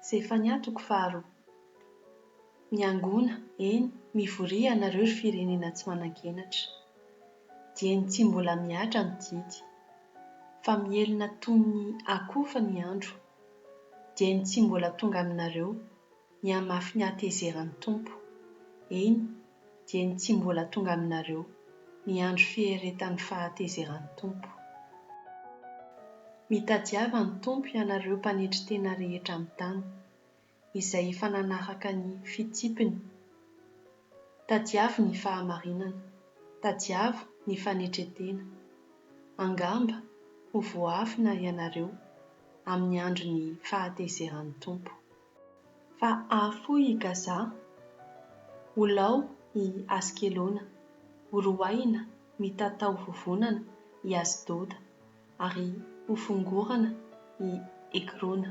Zefania toko faharoa. Miangona, eny, mivoria ianareo ry firenena tsy manan-kenatra. Dieny tsy mbola mihatra ny didy. Fa mihelina toy ny akofa ny andro. Dieny tsy mbola tonga aminareo ny hamafin'ny hatezeran'ny Tompo. Eny. dia ny tsy mbola tonga aminareo ny andro fieretan'ny fahatezeran'ny Tompo. Mitadiava ny Tompo ianareo mpanetry tena rehetra amin'ny tany, izay efa nanaraka ny fitsipiny. Tadiavo ny fahamarinana, tadiavo ny fanetren-tena. Angamba ho voaafina ianareo amin'ny andron'ny fahatezeran'ny Tompo. Fa hahafoy i Gaza, ho lao i Askelona, horoahina mitatao vovonana i Asdoda, ary hofongorana i Ekrona.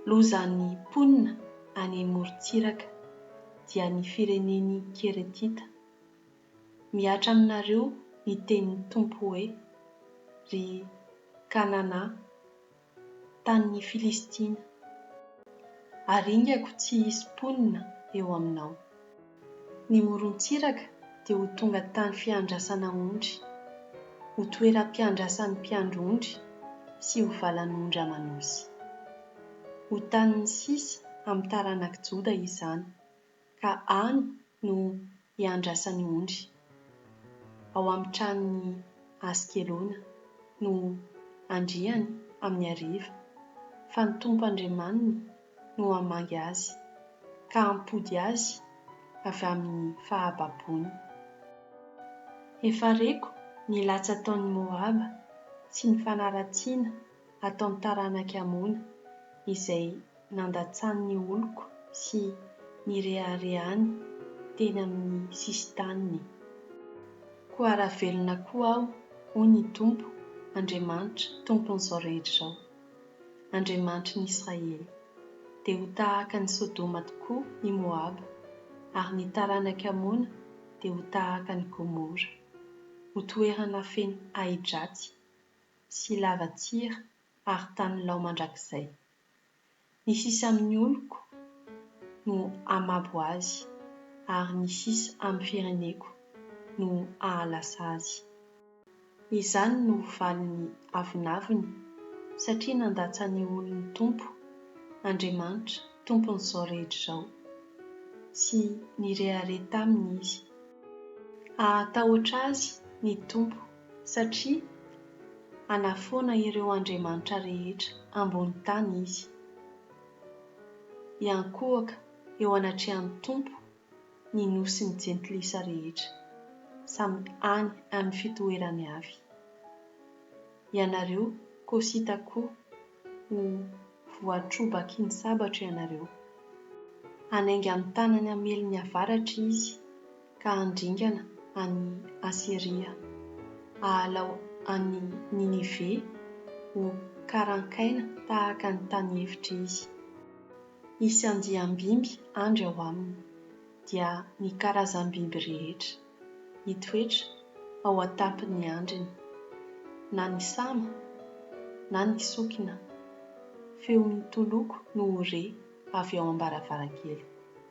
Loza ny mponina any morontsiraka, dia ny firenen'ny Keretita. Mihatra aminareo ny tenin'ny Tompo hoe, Ry Kanana, tanin'ny Filistina. Aringako tsy hisy mponina eo aminao. Ny morontsiraka dia ho tonga tany fiandrasana ondry, ho toeram-piandrasan'ny mpiandry ondry sy ho valan'ondry aman'osy. Ho tanin'ny sisa amin'ny taranak'i Joda izany, ka any no iandrasany ondry. Ao amin'ny tranon'i Askelona no andriany amin'ny hariva, fa ny Tompo Andriamaniny no hamangy azy, ka hampody azy avy amin'ny fahababoany. Efa reko ny latsy ataon'i Moaba sy ny fanaratsiana ataon'ny taranak'i Amona, izay nandatsany ny oloko sy nireharehany teny amin'ny sisin-taniny. Koa raha velona koa aho, hoy ny Tompo, Andriamanitra, Tompon'izao rehetra izao, Andriamanitry ny Israely, dia ho tahaka an'i Sodoma tokoa i Moaba, ary ny taranak'i Amona dia ho tahaka an'i Gomora, ho toerana feno ahi-dratsy sy lava-tsira ary tany lao mandrakizay. Ny sisa amin'ny oloko no hamabo azy, ary ny sisa amin'ny fireneko no hahalasa azy. Izany no valin'ny avonavony, satria nandatsahan'ny olony Tompo, Andriamanitra Tompon'izao rehetra izao, sy nirehareha taminy izy. Hahatahotra azy ny Tompo. satria hanafoana ireo andriamanitra rehetra ambony tany izy. Hiankohoka eo anatrehan'ny Tompo ny nosin'ny jentilisa rehetra, samy any amin'ny fitoerany avy. Ianareo Kosita koa ho voatrobaky ny sabatra ianareo. Hanainga ny tanany hamely ny avaratra izy. ka handringana an'i Asyria, hahalao an'i Ninive ho karankaina tahaka ny tany efitra izy. Hisy andiam-biby handry ao aminy, dia ny karazam-biby rehetra, hitoetra ao an-tampon'ny handriny, na ny sama, na ny sokina. Feo mitoloko no ho re avy ao am-baravarankely.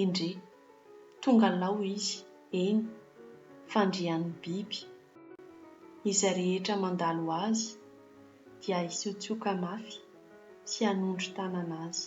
Endrey! Tonga lao izy, eny, fandrian'ny biby. Izay rehetra mandalo azy dia hisiotsioka mafy sy hanondro tanana azy.